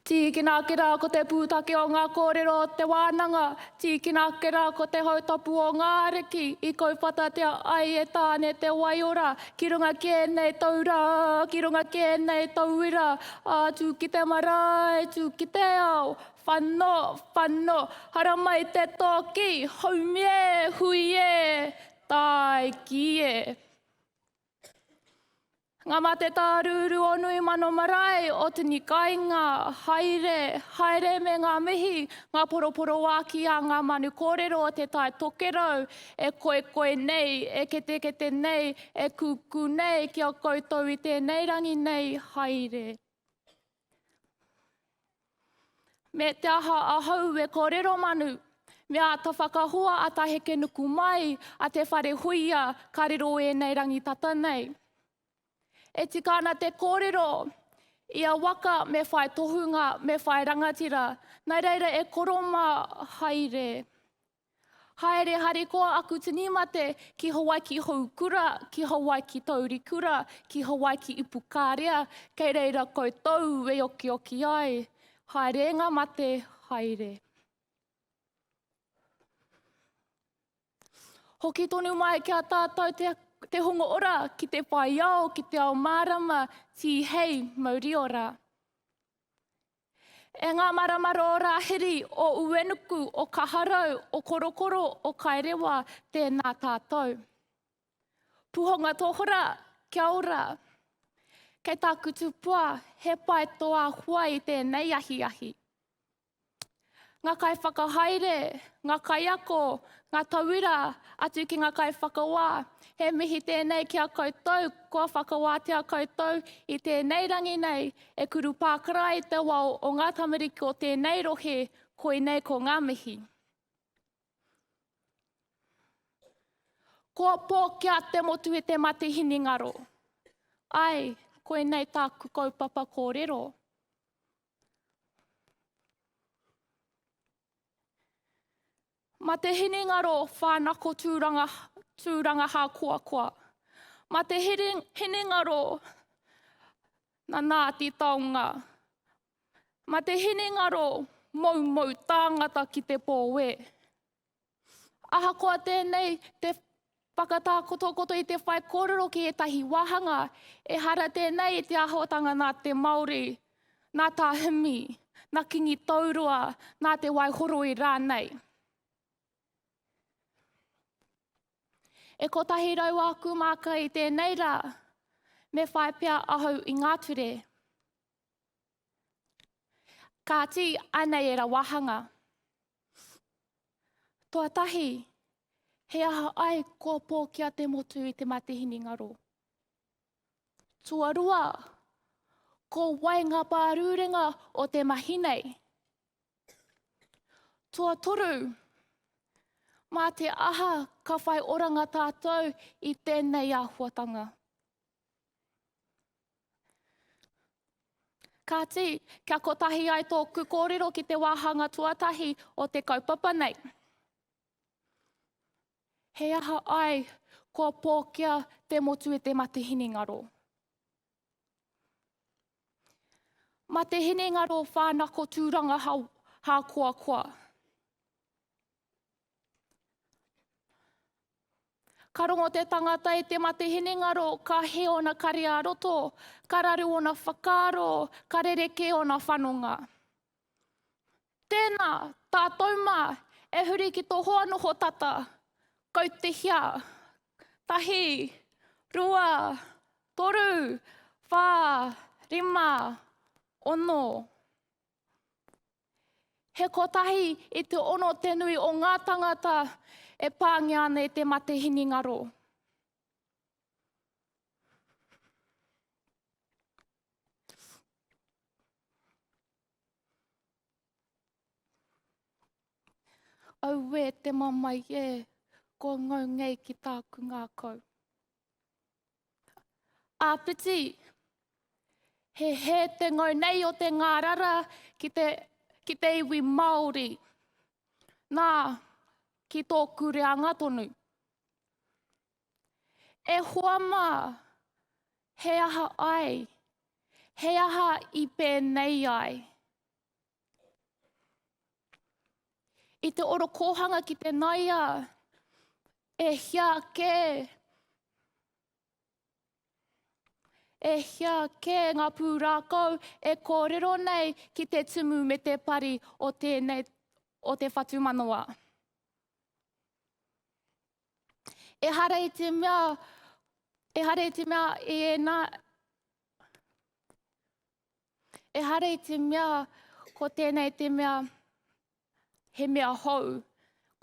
Tīkina ake rā ko te pūtake o ngā kōrero o te wānanga, tīkina ake rā ko te hautapu o ngā ariki i kauwhatatia ai e Tāne te waiora ki runga ki ēnei taura, ki runga ki ēnei tauira, ā, tū ki te marae, tū ki te ao, whano, whano, haramai te tōki, haumi e, hui e, tāiki e. Nga mate tārūru o nui mano marae, o tini kainga, haere, haere me nga mihi, nga poroporoaki a nga manu korero o te tae tokerau, e koekoe nei, e ketekete nei, e kuku nei ki a koutou i tenei rangi nei, haere. Me te aha ahau e kōrero manu, me āta whakahoa a Tahekenuku mai a Te Wharehuia ka riro ēnei rangi tata nei. E tika ana te kōrero, ia waka me whai tohunga, me whai rangatira, nā reira e koro mā haere. Haere harikoa aku tini mate ki Hawaiki Houkura, ki Hawaiki Taurikura, ki Hawaiki Ipukarea, kei reira koutou e okioki ai. Haere nga mate, haere. Hoki tonu mai ki a tātou te, te hongo ora ki te whai ao, ki te ao mārama, tī hei mauri ora. E ngā marama rōrāhiri o Uenuku, o Kaharau, o Korokoro, o Kaerewa, tēnā tātou. Puhonga Tohora, kia ora. Kei tāku tupua, he pae tō āhua i tēnei ahiahi. ngā kaiwhakahaere, ngā kaiako, ngā tauira atu ki ngā kaiwhakawā. He mihi tēnei ki a koutou kua whakawātea koutou i tēnei rangi nei e kuru pākara ai te wao o ngā tamariki o tēnei rohe, koinei ko ngā mihi. Kua pōkia te motu i te mate hinengaro. Ai, koinei tāku kaupapa kōrero. Ma te hinengaro whanako tūranga, tūranga hā koa koa. Ma te hinengaro na nā te taonga. Ma te hinengaro mau mau tāngata ki te pōwe. Ahakoa tēnei, te whakatākotokoto i te whaikōrero ki ētahi wāhanga, ehara tēnei i te āhuatanga nā te Māori, nā Tā Himi, nā Kingi Tauroa, nā Te Waihoroi rānei. E kotahi rau āku māka i tēnei rā, me whai pea ahau i ngā ture. Kāti, anei era wahanga. Toa tahi, he aha ai kua pō ki a te motu i te matihini ngaro? Tuarua, ko wai ngā pārūrenga o te mahi nei? Toa toru, mā te aha ka whai oranga tātou i tēnei āhuatanga? Kāti, kia kotahi ai tōku kōrero ki te wāhanga tuatahi o te kaupapa nei. He aha ai kua pōkia te motu e te mate hinengaro? Ma te hinengaro whānako tūranga hākoakoa. Ka rongo te tangata e te mate hinengaro, ka he ona kare a roto, ka raru ona whakaaro, ka rereke ona whanonga. Tēnā, tātou mā, e huri ki tō hoa noho tata. Kau te hia. Tahi, rua, toru, whā, rima, ono. He kotahi i te ono te nui o ngā tangata e pāngia ana e te mate hinengaro. Auē te mamae e, kua ngau ngei ki tāku ngākau. Āpiti, he hē te ngau nei o te ngārara ki te, ki te iwi Māori. Nā, ki tōku reanga tonu. E hoa mā, he aha ai? He aha i pēnei ai? I te orokōhanga ki te naia, e hia kē, e hia kē ngā pūrākau e kōrero nei ki te tumu me te pari o tēnei, o te whatumanawa. E hara i te mea, e hara i te mea i ena, Ehara i te mea ko tēnei te mea he mea hou.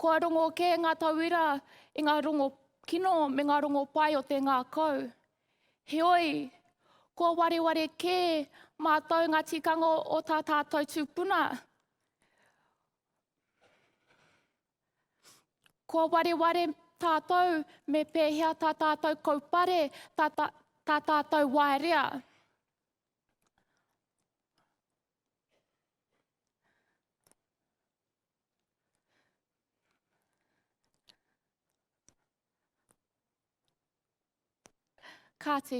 Kua rongo kē ngā tauira i ngā rongo kino me ngā rongo pai o te ngākau. Heoi, kua wareware kē mātou ngā tikanga o tā tātou tūpuna. Kua wareware tātou me pēhea tā tātou kaupare, tā, tā, tā tātou waerea. Kāti,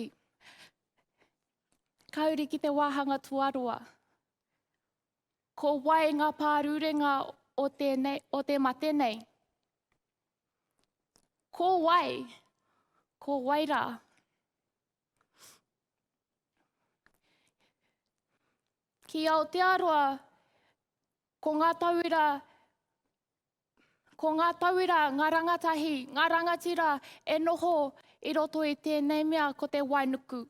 ka uri ki te wāhanga tuaroa. Ko wai ngā pārurenga o, tēnei, o te mate nei? Ko wai? Ko wai rā? Ki Aotearoa, ko ngā tauira, ko ngā tauira, ngā rangatahi, ngā rangatira e noho i roto i tēnei mea ko te wainuku.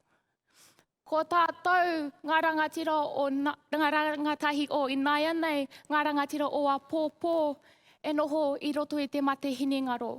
Ko tātou ngā rangatira o ngā rangatahi o inaianei, ngā rangatira o apōpō e noho i roto i te mate hinengaro.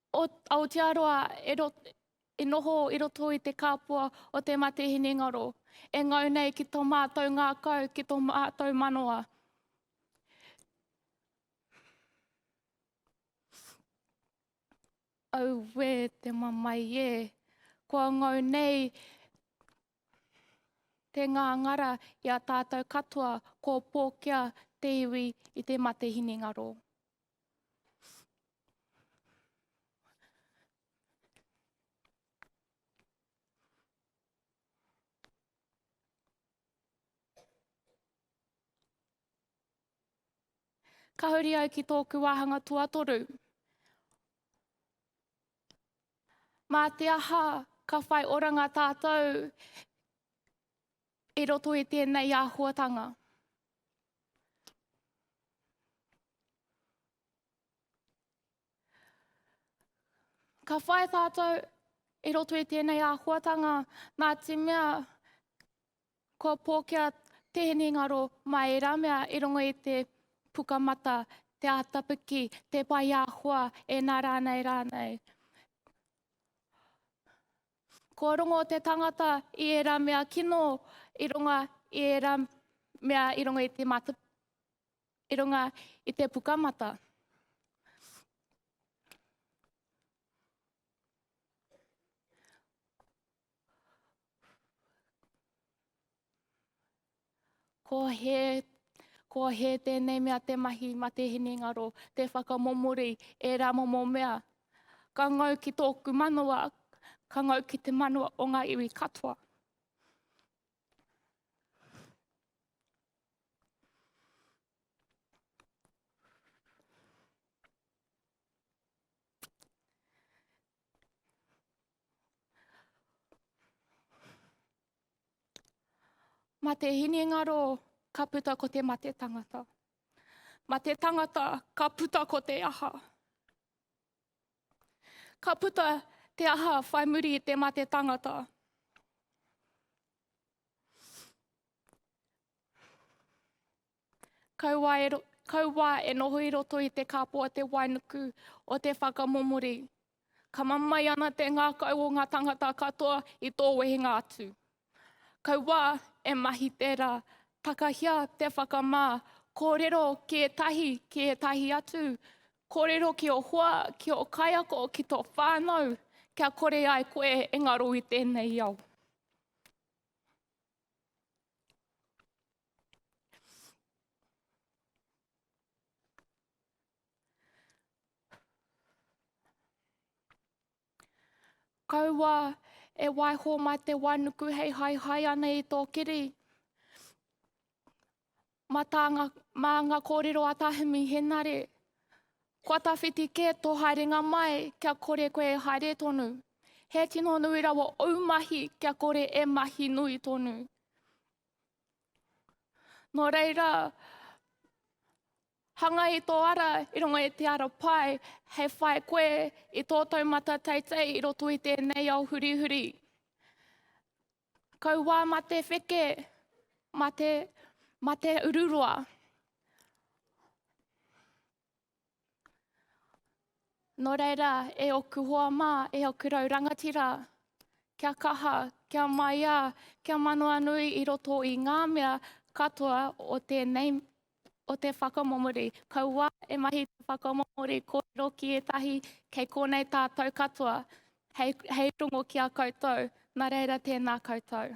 O Aotearoa e noho i roto i te kāpua o te mate hinengaro, e ngau nei ki tō mātou ngākau, ki tō mātou manawa. Auē te mamae e, kua ngau nei te ngāngara i a tātou katoa, kua pōkia te iwi i te mate hinengaro. Ka huri au ki tōku wāhanga tuatoru. Mā te aha ka whai oranga tātou I roto i tēnei āhuatanga, ka whai tātou i roto i tēnei āhuatanga nā te mea kua pōkia te hinengaro mā ērā mea i rongo i te pukamata, te ātapiki, te pai āhua, e nā rānei rānei. Kua rongo te tangata i ērā mea kino i runga i ērā mea i runga i te mata, i runga i te pukamata. Ko he, ko he tēnei mea te mahi ma te hinengaro, te whakamomori, e rā momo mea. Ka ngau ki tōku manawa, ka ngau ki te manawa o ngā iwi katoa. Ma te hinengaro ka puta ko te mate tangata. Ma te tangata ka puta ko te aha. Ka puta te aha whai muri i te mate tangata. Kauā e noho i roto i te kāpō a te wainuku o te whakamomori. Ka mamae ana te ngākau o ngā tāngata katoa i tō wehenga atu. Kauā e mahi tērā, takahia te whakamā, kōrero ki ētahi, ki ētahi atu, kōrero ki ō hoa, ki ō kaiako, ki tō whānau, kia kore ai koe e ngaro i tēnei ao. Kaua e waiho mā te wānuku hei haihai ana i tō kiri. Mā, tānga, mā ngā kōrero a Tāhimi Henare, kua tawhiti kē tō haerenga mai kia kore koe e haere tonu. He tino nui rawa ou mahi kia kore e mahi nui tonu. Nō reira, hanga i tō ara i runga i te ara pai, hei whai koe i tō taumata teitei i roto i tēnei ao hurihuri. Kauā mā te wheke, mā te, mā te ururoa. Nō reira, e ōku hoa mā, e ōku rau rangatira, kia kaha, kia maiā, kia manawa nui i roto i ngā mea katoa o tēnei o te whakamomori. Kaua e mahi te whakamomori kōrero ki ētahi kei kōnei tātou katoa hei, hei rongo ki a koutou. Nā reira tēnā koutou.